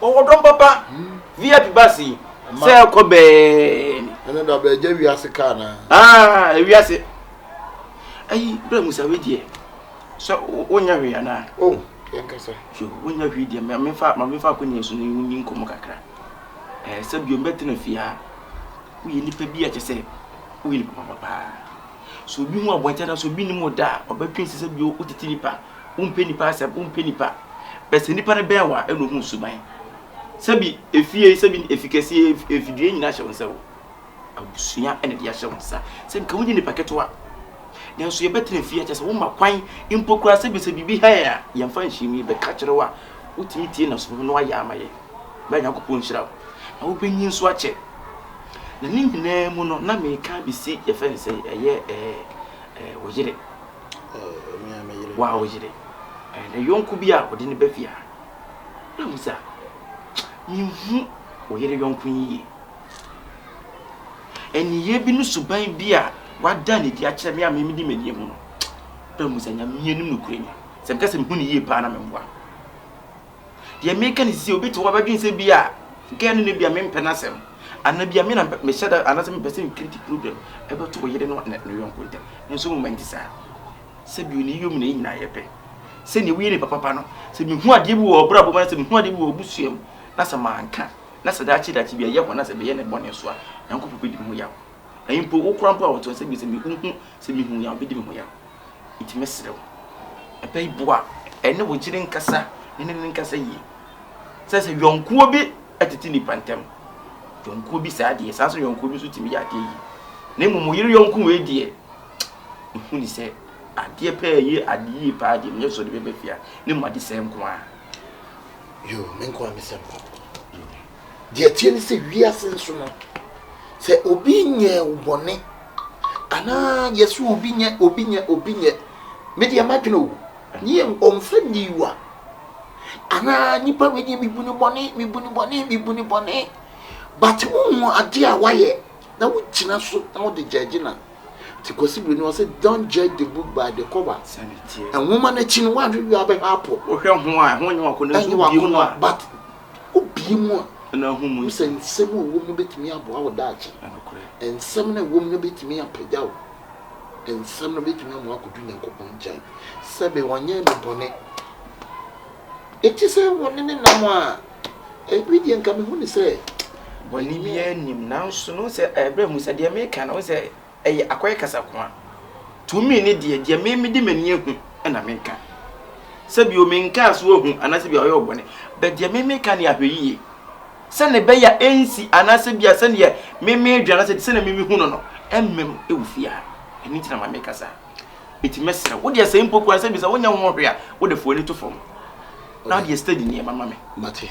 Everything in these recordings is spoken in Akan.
Wɔwɔ dɔm papa. VIP bus yi sɛ ɛkɔ bɛn. Ɛne da bɛɛ gya wiase kaa na. Ah, wiase. Ayi, bra musa we deɛ. Sɛ wonya hwee anaa? Oh, yɛn kasa. Yo, wonya hwee deɛ ma mefa ma mefa akonnwa so ne wonni nkɔmɔ kakra. Eh, sɛ bio mbɛtena fie a. Woyɛ nipa bi a kyɛ sɛ woyɛ nipa papa paa. So obi hu abɔnten na so obi nim da a, ɔbɛtwe sɛ sɛ bio wotete nipa Wompɛ nnipa asɛm, wompɛ nnipa. Bɛ sɛ nnipa no bɛn wo a, ɛna ohu wo suban. Sɛbi efie yi, sɛbi efi kɛseɛ yi, ef, efidie nyinaa hyɛ wo nsa o. Abusua ɛna ɛde ahyɛ wo nsa. Sɛ nka wonyɛ nnipa ketewa. Nanso yɛbɛtena fie akyɛ sɛ woma kwan mpo koraa sɛbi sɛ biribi ha yɛn a, yɛmfa nhyem yi, bɛka kyerɛ wo a, wotumi tie na sɔre na woayɛ ama yɛn. Bɛa Nyankopɔn nhyira wo. Na wobɛnyin nso akyɛ. Na ne nyinaa mu no, na meka abɛsi yɛfrɛ no sɛn, ɛyɛ ɛɛ, ɛɛ wo yere. Waa wo yere. Ne yɔnko bi a ɔde ne ba fie ha. Na hu sɛ menhu wo yere yɔnko yi yie. Ɛniyɛ bi ne suban bi a wada ne di akyerɛ me a mimi di m'ani mu no. Bɛ hu sɛ nyame anim no kure ni. Sɛ meka sɛ mehu ne yie paa na memboa. Deɛ meka ne sisi, obi te hɔ a bɛdwene sɛ bi a girl no ne bi a mempɛ n'asɛm anaa bi a me na mehyɛ da anaasɛ mepɛ sɛ mecreate problem ɛbɛto ɔyere no ne ne yɔnko ntam. Nanso nwoma nte saa. Sɛbi onii yom na yɛn nyinaa yɛ pɛ. Sɛnea woyɛ nipa papa no, sɛ mehu adeɛ bi wɔ ɔbrabɔ mu anaa mehu adeɛ bi wɔ ɔbusua mu na sɛ manka na sɛ daakye daakye bi ɛyɛ hɔ na sɛ meyɛ ne bɔne so a, Nyankopɔn bɛdi me ho yaw. Na mpo wo koraa mpo a ɔtɔn sɛ bi sɛ mehu Sɛ mihu yɛ a, obedi me ho yaw. Enti mɛsrɛ wo, ɛpɛ yi boa ɛne wo yere nkasa ne ne nkasa yie. Sɛ sɛ yɔnkoɔ bi tete nnipa ntam, yɔnkoɔ bi saa deɛ, saa nso yɔnkoɔ bi nso tumi yɛ adeɛ yie. Na mmom wo yere yɔnko wei deɛ, ɛhu ne sɛ adeɛ pɛɛ yɛ adeɛ yie paa deɛ menyɛ sɔ de bɛba fie a, ne mmom adesɛe nko ara. Yoo, me nko ara me sɛm papa. Deɛ ɛteɛ ne sɛ, wiase nso no, sɛ obi nyɛɛ wo bɔne anaa yɛse obi nyɛ obi nyɛ obi nyɛ me deɛ madwene o ne yɛ ɔmfa niwa anaa nipa wei deɛ mebu ne bɔne mebu ne bɔne mebu ne bɔne but wohu adeɛ a wayɛ na wogyina so na wode gyɛgye na nti Kwasi Bere no ɔsɛ don't judge the book by the cover nwoma no akyi no woanhwehwɛ abɛhwɛ apɔ wohwɛ ho a ɛho nyɛ wakɔ no nso biem a but Wobue mu a, wohu sɛ nsɛm a ɛwom no betumi aboa wo daakye. Nsɛm no a ɛwom no betumi apagya wo. Nsɛm no betumi ama woakodu Nyankopɔn nkyɛn. Sɛbe ɔnyɛɛ me bɔne. Enti sɛ wɔne no nam a, ebi deɛ nka mehu no sɛ. Bɔne biara nnim. Nanso no, wohu sɛ ɛbrɛ mu sɛ deɛ meka no, wohu sɛ Ɛyɛ akɔyɛ kasa ko a. Tumi ne deɛ, deɛ me mede m'ani ahu na meka. Sɛ bio, menkaa so ahu anaasɛ bia ɔyɛ ɔbɔne, but deɛ me meka ne ahwɛyie. Sɛnea ɛbɛyɛ a ɛnsi anaasɛ bia sɛdeɛ me medwen anaasɛ sɛnea me mehu no no, ɛmmam wɔ fie ha. Ɛno nti na ma meka saa. Enti mɛsrɛ wo deɛ sɛ mpo koraa sɛ bisa wonyɛ ho hwee a, wode fo ani to fam na deɛ steady nneɛma ma me. Mate.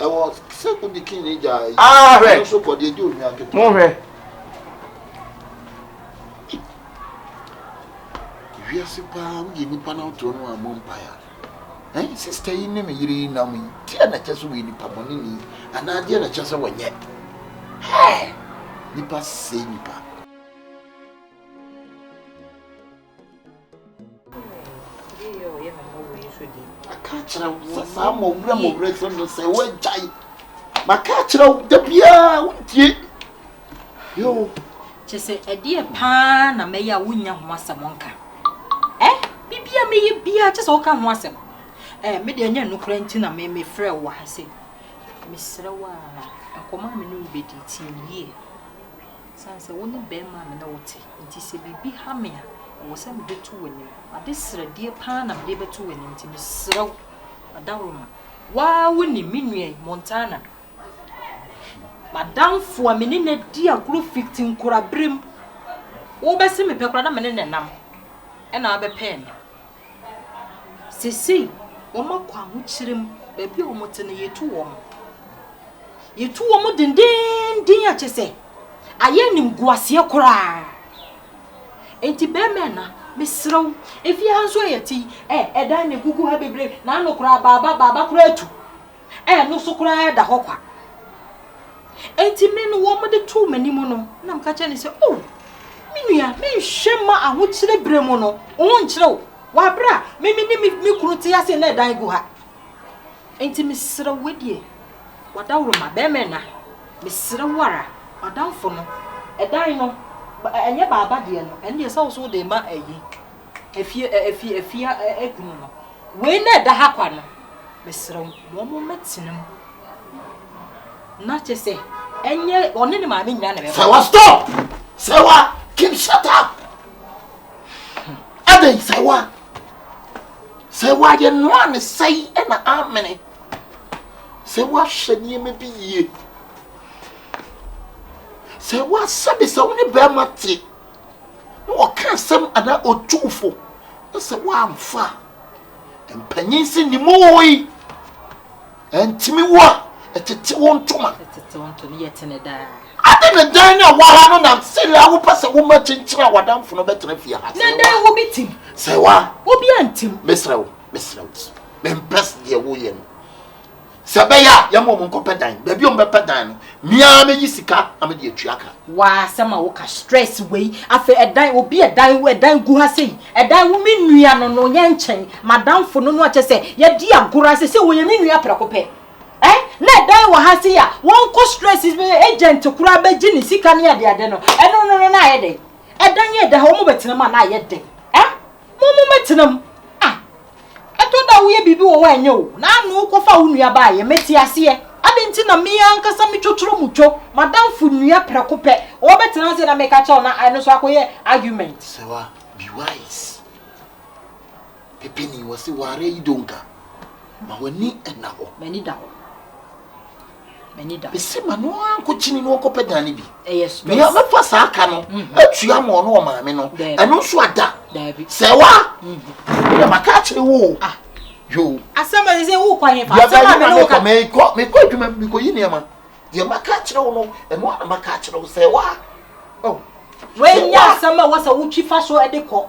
Ɛwɔ sɛ wode kin ne gya yi ah, no nso kɔ deɛ ɛdi ohwia nketewa. Monhwɛ. Wiase paa woyɛ nnipa na wotoɔ no ammɔ mpaeɛ a eh, sista yi ne me yere yi nam yi deɛ na ɛkyɛ sɛ wɔyɛ nnipa bɔne ni anaa deɛ na ɛkyɛ sɛ wɔnyɛ nnipa sɛe nnipa maka akyerɛ wo sɛ saa mmɔwerɛ mmɔwerɛ sɛ no sɛ woagyae maka akyerɛ wo da biaa wontie yo kyɛ sɛ ɛdeɛ paa na mɛyɛ a wonya ho asɛm nka ɛ bibia mɛyɛ biaa kyɛ sɛ woka ho asɛm ɛ medeɛ ɛnyɛ nokora nti na mefrɛ wo ha sɛ mesrɛ wo a nkɔma me ne wobɛdi tie yie Esiane sɛ wo ne barima a me ne wo te nti, sɛ biribi ha me a, ɛwɔ sɛ mede to w'anim. M'ade srɛdeɛ pa ara na mede rebɛto w'anim, enti mesrɛ wo, fa daworo ma. Wo ara wonim, me nua yi, Montana. M'adamfo a me ne no adi agorɔ fi te nkoraberɛm. Wobɛse mepɛ koraa na me ne no nam, ɛnna wobɛpɛɛ me. Seesei wɔakɔ ahokyere mu, baabi a wɔte no, yetu wɔn. Yetu wɔn denneennen a kyerɛ sɛ ayɛ animguaseɛ koraa. Enti barima ɛna, mesrɛ wo, efie ha nso a yɛte yi, ɛ, ɛdan na ɛgugu ha bebree, n'ano koraa, baaba, baaba koraa atu. Ɛno so koraa da hɔ kwa. Enti me no wɔde too m'anim no, na meka kyerɛ no sɛ, O, me nua, menhwɛ mma ahokyere berɛ mu no, wo ho nkyere wo, wɔ aberɛ a me me ne me kunu te ase na ɛdan gu ha. Enti mesrɛ wo, wedeɛ, w'adaworoma, barima nna, mesrɛ wo ara, m'adamfo no, ɛdan no, ɛnyɛ baaba deɛ no, ɛno deɛ ɛsɛ wo sɛ wode ma ayi. afie ɛ, afie, afie a ɛ, adu mu no, wei na ɛda ha kwa no, mesrɛ wo, wɔn mmɛtena mu. Na kyerɛ sɛ, ɛnyɛ ɔne ne maame nyinaa na ɛbɛba. Sɛwa stop! Sɛwa, Kim shut up! Adɛn sɛwa? Sɛwa yɛ noa ne sɛi ɛna amene. Sɛwa hyɛ nneɛma bi yie. Sɛwa sɛbi sɛ wo ne bɛrima te na ɔka asɛm anaa otuu fo na sɛ woamfa a, mpanyin se ne mu wɔ yi ɛntumi wo a ɛtete wo ntoma ade ne dan no a waha no na sere a wopɛ sɛ woma kyenkyere a wadamfo no bɛtena fie ha na dan wo bi tim sɛ wa obi antim mesrɛ wo mesrɛ wo mempɛ deɛ woyɛ no Sɛ ɛbɛyɛ a, yɛmma wɔn nkɔpɛ dan. Baabi a wɔbɛpɛ dan no, me ara mɛyi sika na mede atua ka. W'asɛm a woka stress wei. Afei ɛdan, obi ɛdan, ɛdan gu ha sei. Ɛdan wo me nua no no yɛ nkyɛn. M'adamfo no no a kyɛ sɛ yɛdi agorɔ a seesei ɔyɛ me nua prɛko pɛ. Ɛ? Na ɛdan wɔ ha sei a wɔnkɔ stress agent koraa bɛgye ne sika ne adeade no. Ɛno no no na ayɛ dɛn? Ɛdan a ɛda ha wɔbɛtena mu a na ayɛ dɛn? Ɛ? Mo mo mɛtena mu. Ah! Ɛtɔ da woyɛ biribi wɔ hɔ a ɛnyɛ o, na ano wokɔfa wo nua ba ayɛ, mete aseɛ. Adɛn nti na me ankasa me twotworo mu two m'adamfo nua prɛko pɛ? Wɔbɛtena ase na meka kyerɛ wo na ɛno nso akɔyɛ argument. Sewa, be wise. Pepeni, wɔse ware yi donka. Ma w'ani nna hɔ. M'ani da hɔ. m'ani da. Ese ma no ara nkɔkyini na ɔnkɔpɛ dan no bi. Ɛyɛ stress. Nea ɔbɛfa saa ka no mhm. atua ama ɔno ɔmaame no, ɛno nso ada. Sɛ wa, mhm. ɛna maka akyerɛ wo o. Ah. Yo. Asɛm a ɛsɛ wo kwan yɛ fa. Asɛm a mene wo ka. Mekɔ mekɔ adwuma mekɔ yi nneɛma. Deɛ maka akyerɛ wo no, ɛno ara na maka akyerɛ wo sɛ wa. Oh. Wei nyɛ asɛm a wɔsɛ wotwi fa so de kɔ.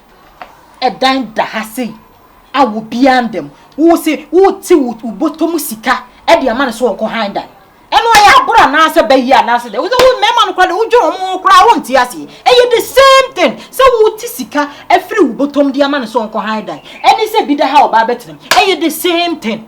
dan da ha sei a obiara nda mu. Wo se wote wo bɔtɔ mu sika de ama no sɛ ɔnkɔ han dan. Ɛno ɛyɛ aboro anaasɛ bɛyɛ anaasɛ dɛ. Wo sɛ wo mmarima no koraa de wodwene wɔn ho koraa wonte aseɛ. Ɛyɛ the same thing sɛ wote sika afiri wo bɔtɔ mu de ama no sɛ ɔnkɔ han dan ɛne sɛ bi da ha ɔbaa bɛtena mu. Ɛyɛ the same thing.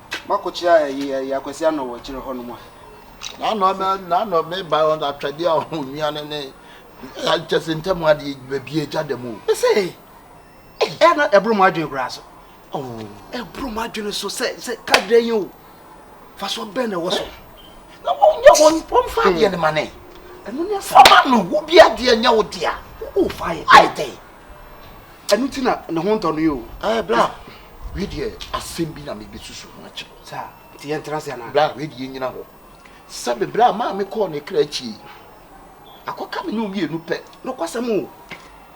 Makɔkyea ɛyi ɛyi akwasi anɔ wɔ akyire hɔ nom a. N'anɔ mɛ n'anɔ mɛ ba wɔn atwɛdeɛ a ɔho nua ne ne akyɛse ntɛm adeɛ baabi agya da mu. Ɛsɛ ɛyɛ na ɛboro mu adwene koraa so. Ɛboro mu adwene so sɛ sɛ kadra yi o fasoɔ bɛn na ɛwɔ so. Na wɔn nyɛ wɔn wɔn fa adeɛ ne ma ne. Ɛno ne asɛm. Ɔma no wo bi adeɛ nyɛ wo dea. O fa yɛ. Ayɛ dɛ. ɛno ti na ne ho ntɔ no yi o. ɛɛ bla wei deɛ asɛm bi na mebe susu ho akyɛ. saa nti yɛn tena se anaa. bla wei deɛ yɛn nyina hɔ sɛbe bla maa me kɔɔ ne kra akyi yi akɔka me ne omienu pɛ. nokwasɛm o.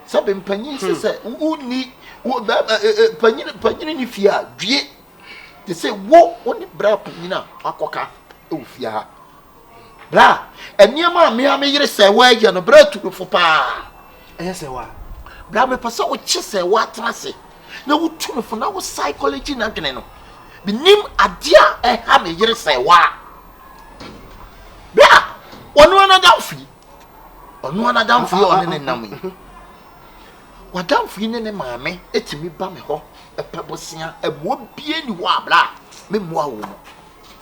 sɛbe mpanyin se sɛ wo ni wo bɛɛma ɛ ɛ panyin panyin ni fie a dwie te se wo wo ne bra panyin a wakɔka ɛwɔ fie ha. Bra, nneɛma a me ara me yere sɛ wɔ yɛ no, bra atu me fo paa. Ɛyɛ sɛ wɔ. Bra, me pɛ sɛ wo kye sɛ wɔ atena ase na wo tu me fo na wo psychology na dwene no. Me nim adeɛ a ɛha me yere sɛ wɔ. Bra, ɔno ara n'adamfo yi. Ɔno ara n'adamfo yi a ɔne ne nam yi. W'adamfo yi ne ne maame etumi ba me hɔ ɛpɛ bosea ɛmoa bie ni hɔ a bra me mmoa wo mu.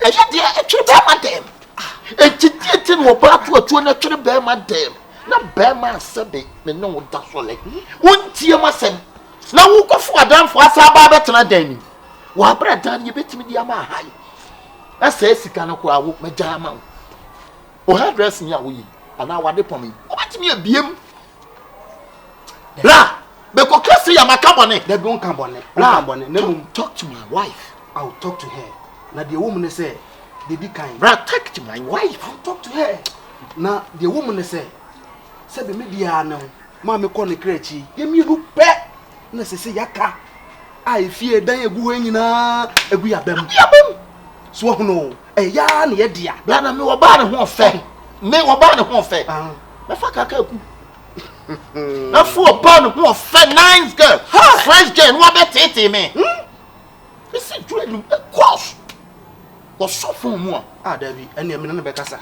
ɛyɛ deɛ ɛtwere bɛrima dɛm enti deɛ nti na ɔbaa to atuo no ɛtwere bɛrima dɛm na bɛrima asɛ de me ne wo da sɔlɛ wontie ma sɛm na wokɔfo adanfo asa abaa bɛtena dan ni wɔabrɛ dan no yɛbɛtumi de ama ahae na sɛ sika no koraa wo mɛgya ama wo wo hairdress ni a woyi anaa wade pɔme wobɛtumi abiem bra Bɛkɔ ka sɛ yama ka bɔne. Dabi ɔnka bɔne. Ɔnka bɔne. Na mmom. Talk to my wife. I will talk to her. Na deɛ ɛwɔ mu ne sɛ deɛ di kan. Bra talk to my wife. I will talk to her. Na deɛ ɛwɔ mu ne sɛ sɛ bɛ me biara ne wo maame kɔ ne kra akyi. Yɛ mmienu pɛ na sɛ sɛ yɛaka a efie dan egu hɔ nyinaa egu yabam. Yabam. So ɔhono ɛyɛ yaa na yɛ dea. Bra na me ɔbaa ne ho ɔfɛ. Me ɔbaa ne ho ɔfɛ. Mɛfa kaka aku. na fo ɔbaa no ho ɔfɛ nice girl fresh girl no abɛ tete me ɛsi hmm? duro anim ɛkɔs wɔsɔ fon mu a ah dabi ɛnna ɛmi nana bɛ kasa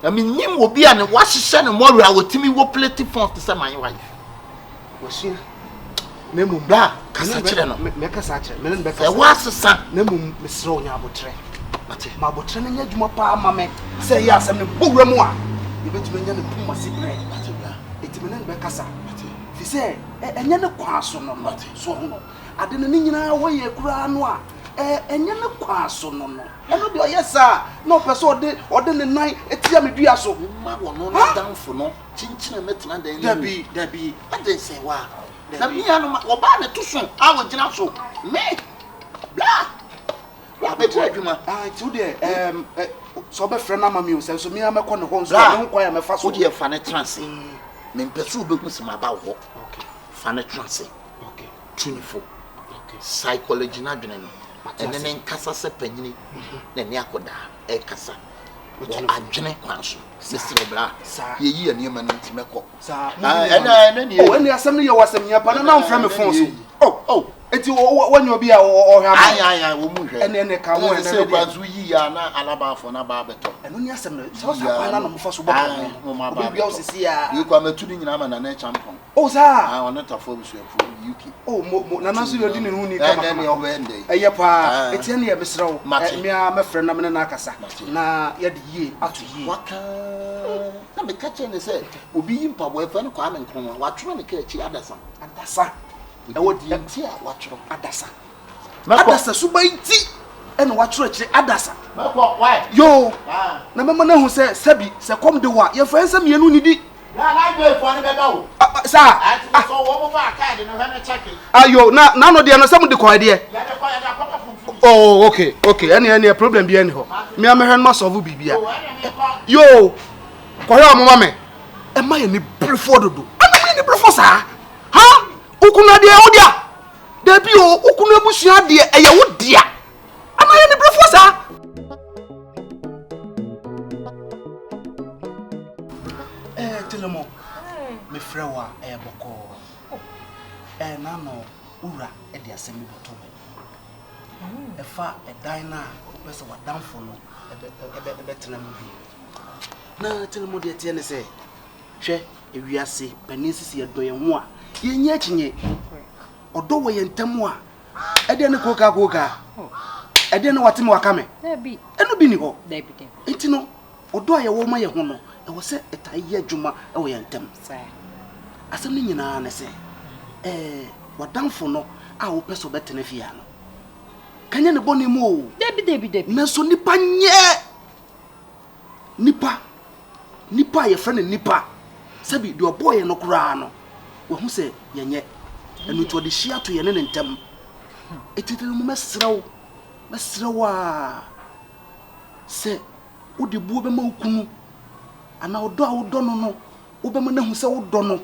na mi nim obi a ne wahyehyɛ ne mɔri a wɔtumi wɔ plate fon te sɛ maa yi wa yi wɔsua na mmom bra kasa kyerɛ no mɛkasa akyerɛ me ne no bɛkasa ɛwɔ asesa na mmom mesrɛ wo nya abotrɛ ma abotrɛ no nyɛ adwuma paa ma me sɛ ɛyɛ asɛm no bɔ wura mu a yɛbɛtumi anya ne pom ase berɛ ɛti me ne no bɛkasa fi sɛ ɛnyɛ ne kwaa so no no so ho no ade no ne nyinaa hɔ yɛ koraa no a ɛnyɛ ne kwaa so no no ɛno deɛ ɔyɛ saa na ɔpɛ sɛ ɔde ɔde ne nan tia me dua so ma wɔno no damfo no Kyinkyin a mɛtena dan no mu. Dabi, dabi, adɛn sɛ wa? Dabi. Na mia no ma wɔbaa ne to so a wɔgyina so. Me, bla! Wa bɛgye adwuma. Ah, nti wo deɛ, ɛɛm, ɛ, sɛ ɔbɛfrɛ no ama mi o, sɛ nso mia mɛkɔ ne hɔ nso a, me ho kwan a mɛfa so. Wo deɛ fa no tena ase. Mempɛ sɛ wobɛhu sɛ maba wo hɔ. Fa no tena ase. Tu ne fo. Psychology no adwene no, ɛne ne nkasa sɛ panyini na ɛne akɔdaa. ɛkasa wɔ adwene kwan so mesrɛ bra yɛyi yɛ nneɛma no nti mɛkɔ ɛne asɛm no yɛ wɔ asɛm hia pa na na womfrɛ me fon so oh, oh. nti woanya obi a ɔhwɛ ama wɔ mu hwɛ ɛne ɛne ka ho ɛne kwan so yi a na alabaafo no aba abɛtɔ ɛno ne asɛm no sɛ ɔsa kwan na nomfa so bɔ kwan ho obi wia wo sisi a yɛkɔ amatu no nyinaa ma nana kyampɔn Oh saa. Ah ɔno tafo abusuakuo yi UK. Oh mo mo nana nso yɛ ɔdi ne ho ni kama kama. Ɛnɛ ɔbɛyɛ ndɛ. Ɛyɛ paa. Eti ɛnna yɛ mesrɛ wo. Mate. Mmea mɛfrɛ na mene no akasa. Mate. Na yɛde yie ato yie. Waka na meka kyerɛ ne sɛ obi yi mpaboa ɛfɛ no Kwame Nkrumah watwerɛ ne ka akyi adasa. Adasa. Ɛwɔ deɛ. Ɛte a watwerɛ. Adasa. Adasa suban nti ɛna wakyerɛkyerɛ adasa. Mɛkɔ why? Yoo. Ah. Na mɛma no ahu sɛ sɛbi sɛ kɔm de wa yɛmfa yɛn nsa mmienu nidi. Na library fo ne bɛba o. Saa. Ati ah. sɔ wɔn mo ba kaadi no hwɛ ne kyɛke. Ayo na n'ano deɛ no sɛ mo de kɔ ɛdeɛ. Yɛde kɔ yɛde akɔtɔ funfun. Oh okay okay ɛne ɛne problem bi ɛne hɔ. Mi amehwɛ no ma sɔvu bibia. Yoo kɔhwɛ ɔmo ma mɛ. Ɛma yɛ ne brefo dodo. Ɛma yɛ ne brefo saa. Ha okunu adeɛ ɔdia. Dabi o, wo kunu abusua deɛ ɛyɛ wo dea. Anaa yɛ niberefoɔ saa? Ɛɛ eh, Telemo, mefrɛ wo a ɛyɛ eh, bɔkɔɔ. Ɛɛ eh, n'ano wura de asɛm bi bɛtɔ me. Ɛfa ɛdan no a wopɛ sɛ w'adamfo no ɛbɛtena mu bi. Na Telemo deɛ teɛ ne sɛ Hwɛ wiase panin sisi yɛdɔ yɛn ho a yɛnyɛ akyinye ɔdɔ wɔ yɛn ntam a ɛdeɛ ne kookaa kookaa ɛdeɛ ne wate me waka me ɛno bi ni hɔ nti no ɔdɔ a yɛwɔ ma yɛ ho no ɛwɔ sɛ ɛtaa yɛ adwuma wɔ yɛn ntam asɛm no nyinaa ne sɛ ɛɛ wadanfo no a wopɛ sɛ ɔbɛtena fie ano kanyɛ ne bɔne mu o nanso nipa nyɛ Nipa, nipa a yɛfrɛ no nipa, sɛbi deɛ ɔbɔɔ yɛn no koraa no, wahu sɛ yɛnyɛ, ɛno nti ɔde hyia to yɛne ne ntam. Ɛti dɛ no mɛsrɛ wo, mɛsrɛ wo a, sɛ wode buo bɛma wo kunu anaa ɔdɔ a wodɔ no no, Wobɛma no ahu sɛ wodɔ no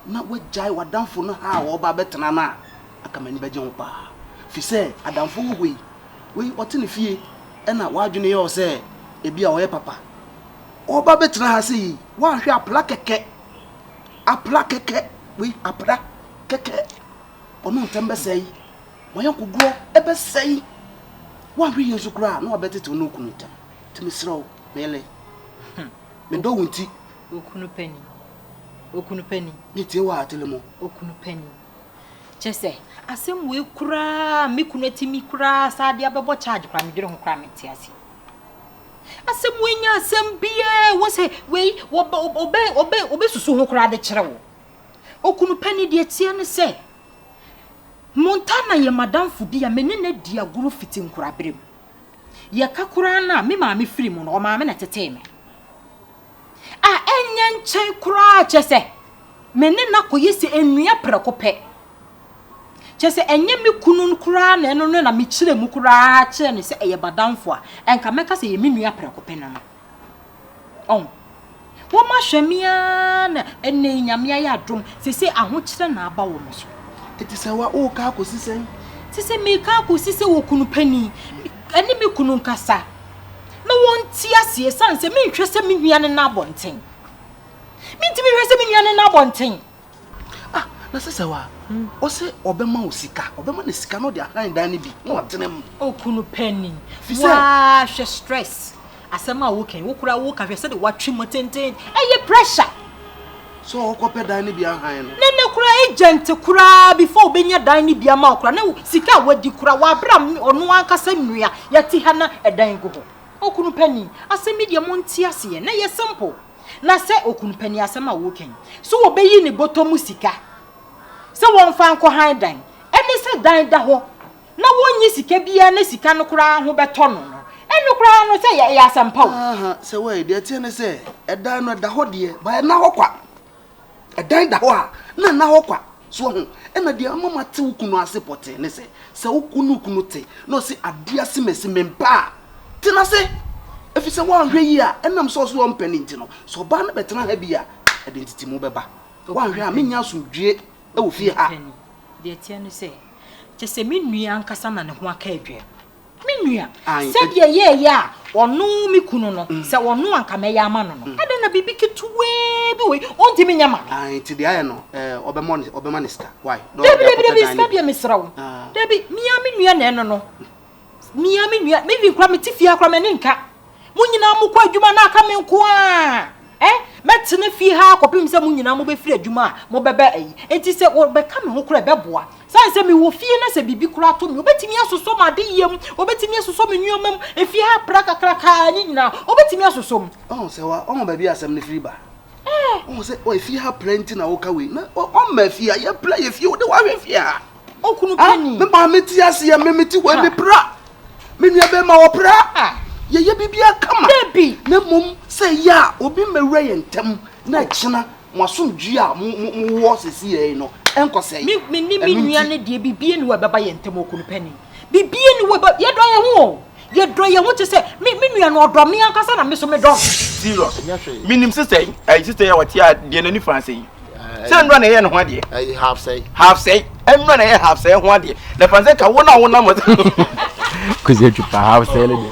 na woagyae w'adamfo no ha a ɔreba abɛtena no a, anka m'ani bɛgye ho paa. Efisɛ adamfo wɔ hɔ yi, wei ɔte ne fie na w'adwene yɛ wo sɛ ebia ɔyɛ papa. Ɔreba abɛtena ha sɛ yi, woanhwɛ a apra kɛkɛ, apra kɛkɛ, wei apra kɛkɛ. Ɔno ntɛm bɛsɛe, w'ayɔnkodeɛ bɛsɛe. Woanhwɛ yie nso koraa a, na wabɛtetew ne okunu ntɛm. Enti mesrɛ wo, Mele. Me dɔ wo nti. Okunu pani, okunu pani. Me tie wɔ atele mo. Okunu pani. Kyɛ sɛ asɛm wei koraa me kunu atumi koraa saa de abɛbɔ charge koraa medwene ho koraa mente ase. Asɛm wei nya asɛm biara wɔ sɛ wei wɔbɛ wɔbɛ wɔbɛ wɔbɛsusu ho koraa de kyerɛ wo. Okunu pani deɛ teɛ ne sɛ Montana yɛ madamfo bi a me ne no adi agorɔ fiti nkoraberɛ mu. Yɛka koraa no a, me maame firi mu no, ɔmaame na ɛtetee me. A ɛnyɛ nkyɛn koraa kyɛ sɛ me ne no akɔyɛ sɛ nnua prɛko pɛ. Kyɛ sɛ ɛnyɛ me kunu no koraa na ɛno no na mekyerɛ mu koraa kyerɛ no sɛ ɛyɛ m'adamfo a, ɛnka mɛka sɛ ɛyɛ me nua prɛko pɛ no no. Ɔho. Wɔma hwɛ me ara na ɛnɛ yi Nyame ayɛ adom sese ahokyerɛ na aba wɔn so. Eti sɛ wa o ka akosi sɛn? Sese me ka akosi sɛ wɔ kunu pani ɛne me kunu nkasa na wɔn ti aseɛ san sɛ me nhwɛ sɛ me nua ne na abɔnten. Me ntumi nhwɛ sɛ me nua ne na abɔnten. Ah, na sesɛ wa, ɔse ɔbɛma wo sika, ɔbɛma ne sika na ɔde ahan dan no bi na ɔtena mu. O kunu pɛni, waa hwɛ stress, asɛm a wo kɛn, wo kura wo ka hwɛ sɛde watwe mu tenten, ɛyɛ pressure. Sɛ ɔkɔ pɛ dan no bi ahan no. Ne ne kura agent kura before obenya dan no bi ama ɔkura, ne sika a wadi kura wa bra ɔno ankasa nua, yɛte ha na ɛdan gu hɔ. O kunu pɛni, asɛm yi deɛ mo nte aseɛ, na ɛyɛ simple. na sɛ okunu pɛ ne asɛm a wɔreka yi, so obeyi ne bɔtɔ mu sika sɛ wɔmfa nkɔ hann dan? Ɛne sɛ dan da hɔ na wonnye sika biara na sika no koraa ho bɛtɔ no no, ɛno koraa no sɛ ɛyɛ asɛm pa o. Aaha, sɛ woayɛ deɛ ɛteɛ ne sɛ, ɛdan no ɛda hɔ deɛ, but ɛnna hɔ kwa. Ɛdan da hɔ a, na nna hɔ kwa. So woahu? Ɛnna deɛ ama mate wo kunu ase pɔtee ne sɛ, sɛ wo kunu wo kunu te, na ɔse adeɛ ase masi me mpa a, tena ase! Ɛfiri sɛ woanhwɛ yie a, ɛnam sɛ ɔse ɔmpɛ no nti no, sɛ ɔbaa no bɛtena ha bi a, ɛde ntetemu bɛba. Woanhwɛ a, merennya asomdwoeɛ wɔ fie ha. Deɛ ɛteɛ ne sɛ, kyerɛ sɛ me nua ankasa na ne ho aka adwene. Me nua, sɛdeɛ yɛɛyɛ a ɔno me kunu no, mm. sɛ ɔno anka mɛyɛ ama no no, mm. adɛn na biribi ketewaa bi wei ɔntumi nyɛ ma no? Ah, nti deɛ ayɛ no, eh, ɔbɛma ne sika. Why? Dabi, dabi, dabi, sika deɛ mesrɛ wo. Ah. Dabi, mea me nua na ɛno no. Mea me nua, me even kora mete fie akora m'ani nka. Mo nyinaa mo kɔ adwuma na aka me nko a ɛ mɛtena fie ha akɔpem sɛ mo nyinaa mobɛfiri adwuma a mobɛbɛ ayi. Enti sɛ wɔbɛka me ho koraa ɛbɛboa. Sane sɛ mewɔ fie na sɛ biribi koraa to me wɔbɛtumi asosɔ m'adeyɛ mu, wɔbɛtumi asosɔ me nneɛma mu, efie ha pra kakraka a ne nyinaa wɔbɛtumi asosɔ mu. Ɔho sɛ wa ɔho baabi a asɛm no firi ba? Ɔho sɛ ɔ efie ha pra nti na woka wei. Na ɔ ɔmma efie ha yɛ pra yɛ fie wo de wahwɛ fie ha. Okunu pa ni. Me maame ti ase yɛ me me ti wɔ me pra. Me nua bɛɛ ma wɔ pra. Yɛyɛ biribiara kama. Dabi. Na mmom sɛ yɛ a obi mmɛwura yɛn ntam na ɛkyena mo asomdwie a mo mo mo wɔ sisi yɛ no ɛnkɔsɛe. Me me ne me nua no deɛ biribiara ni wɔ ɛbɛba yɛn ntam okunu pa ni. Biribiara ni wɔ ɛbɛ yɛdɔ yɛn ho o. Yɛdɔ yɛn ho te sɛ me me nua no, ɔdɔ me ankasa na me nso medɔ no. Serious. Menim sesɛe. Ayi sesɛe a wɔte a deɛ n'ani faa sɛe. Sɛ nnura na ɛyɛ ne ho adeɛ. Ayi half sɛe. Half sɛe. Nnura na ɛyɛ half sɛe ho adeɛ. Na fa sɛ ka wo na wo nam. Kwesi atwa pa half sɛe ne deɛ.